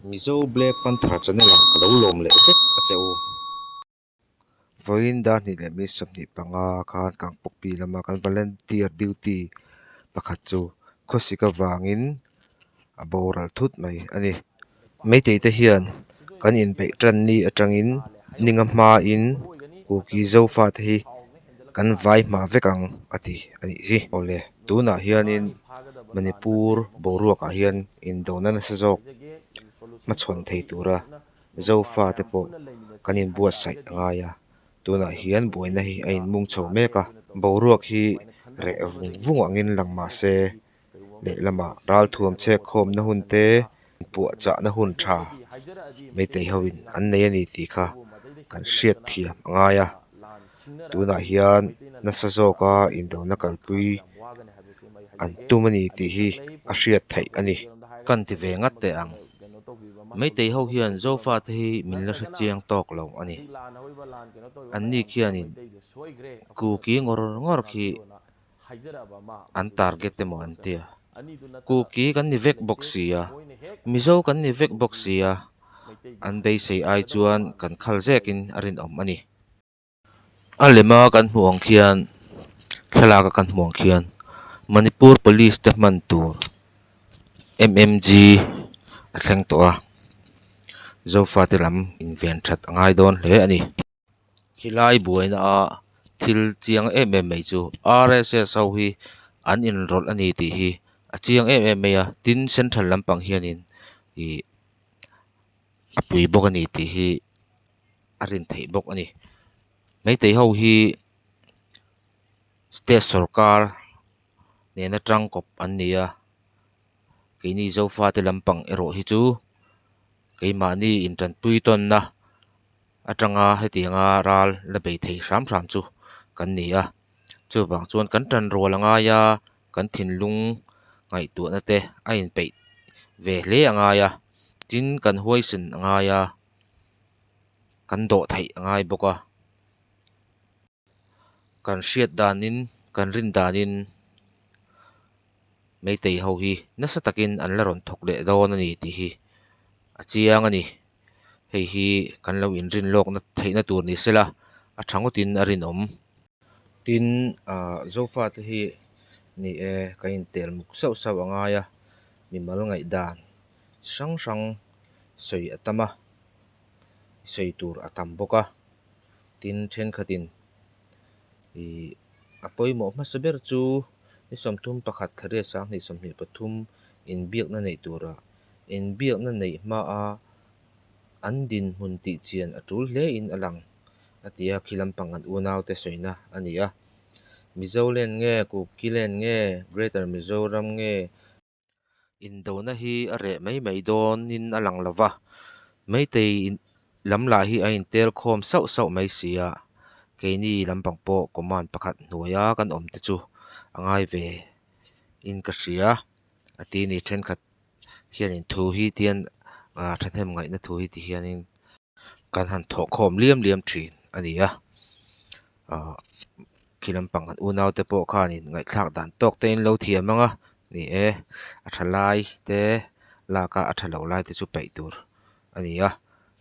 Mizo Black Panther Channel ah ka lo lawm leh vek a che u. Vawiin dar hnih leh mi sawmhnih panga khan Kangpokpi lama kan Volunteer Duty pakhat chu khawsik avangin a boral thut mai a ni. Meitei te hian kan inbeih tan ni atangin hninga hmain Kuki Zofa te hi. kan vai hma vek ang a ti a nih hi awle tunah hianin manipur boruakah hian indawhna nasa zawk hmachhawn thei tura zofa te pawh kan inbuatsaih a ngai a tunah hian buaina hi a inmung chho mek a boruak hi reh vung vung angin lang mahse-- lehlamah ralthuam chhekkhawmna hun te puah chahna hun tha meitei ho in an nei a ni tih kha kan hriat thiam a ngai a tunah hian nasa zawk a indona kalpui an tum a ni tih hi a hriat theih a ni. Kan ti ve ngat teh ang meitei ho hian Zofa te hi min la hre chiang tawk lo a ni. An ni khian in ku ki ngawr ngawr khi. an target emaw an tia kuki kan ni vek bawk sia mizo kan ni vek bawk sia an beisei ai chuan kan khal zekin a rinawm a ni. A lem a kan hmuh ang khian thlalak a kan hmuh ang khian manipur police te hman tur mmg a thleng tawh a zofate lam inven that a ngai dawn hle a ni. he lai buaina a thil chiang em em mai chu rss ho hi an inrawlh a ni tih hi a chiang em em mai a tin central lampang hian in ihh a pui bawk a ni tih hi a rin theih bawk a ni maitei ho hi state sawrkar nen atang kawp an ni a keini Zofa te lampang erawh hi chu-- keimahni intantui tawnna atanga hetianga ral la bei thei hram hram chu kan ni a chuvang chuan kan tan rual a ngai a kan thinlung ngaihtuahna te a inpeih ve hle a ngai a tin kan huaisin a ngai a kan dawh theih a ngai bawk a. Kan hriat danin, kan rin danin Meitei ho hi nasa takin an la rawn thawk leh dawn a ni tih hi a chiang a ni. Hei hi kan lo inrin lawk na theihna tur ni se la, a tha ngawtin a rinawm. Tin, aah, Zofa te hi ni e, kan intel muk sauh sauh a ngai a, mimal ngaihdan chi hrang hrang sawi a tam a. sawi tur a tam bawk a tin thenkhatin ihh a pawimawh hmasa ber chu ni sawmthum pakhat tha riat sang hnih sawmhnih pathum inbiakna neih tura inbiakna neih hmaa an dinhmun tih chian a tul hle in a lang a ti a khi lampang an unau te sawina a ni a Mizoland nge Kukiland nge Greater Mizoram nge. Indona hi a reh mai mai dawnin a lang lo va, Meitei lam lah hi a intel khawm sauh sauh mai si a, keini lampang pawh command pakhat hnuaia kan awm te chu a ngai ve in ka hria a ti a ni. Thenkhat hianin thu hi tihian aa thahnem ngaihna thu hi tihianin-- kan han thawh khawm liam liam thin a ni a ahh khi lampang kan unau te pawh khan in ngaihthlak dan tawk te in an lo thiam ang a ni e a tha lai te laka a tha lo lai te chu peih tur a ni a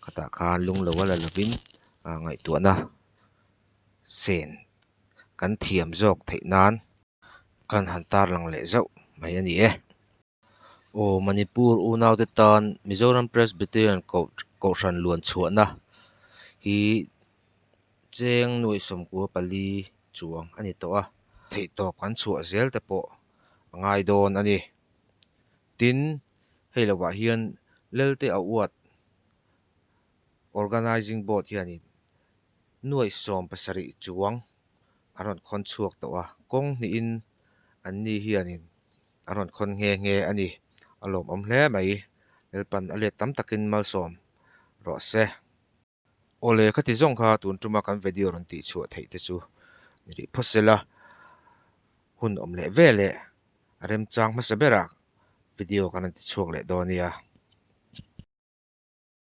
khatah khan lung lo a la lo in ahh ngaihtuahna sen kan thiam zawk theih nan kan han tarlang leh zauh mai a ni e. Aw Manipur unaute tan Mizoram Presbyterian Kohhran luan chhuahna hi cheng nuaih sawmkua pali chuang a ni tawh a, theihtawp kan chhuah zel te pawh a ngai dawn a ni. Tin, hei lo ah hian Lelte a uat Organising Board hianin nuaih sawm pasarih chuang an rawn khawn chhuak tawh a, kawng hnihin anni hianin, a rawn khawn nghe nghe a ni. A lawmawm hle mai. Lalpan a let tam takin malsawm rawh se. Awle ka ti zawng kha tun tuma kan video rawn tih chhuah theih te chu ni rih phaw sela, hun awm leh ve leh a remchang hmasa bera video kan rawn ti chhuak leh dawn nia.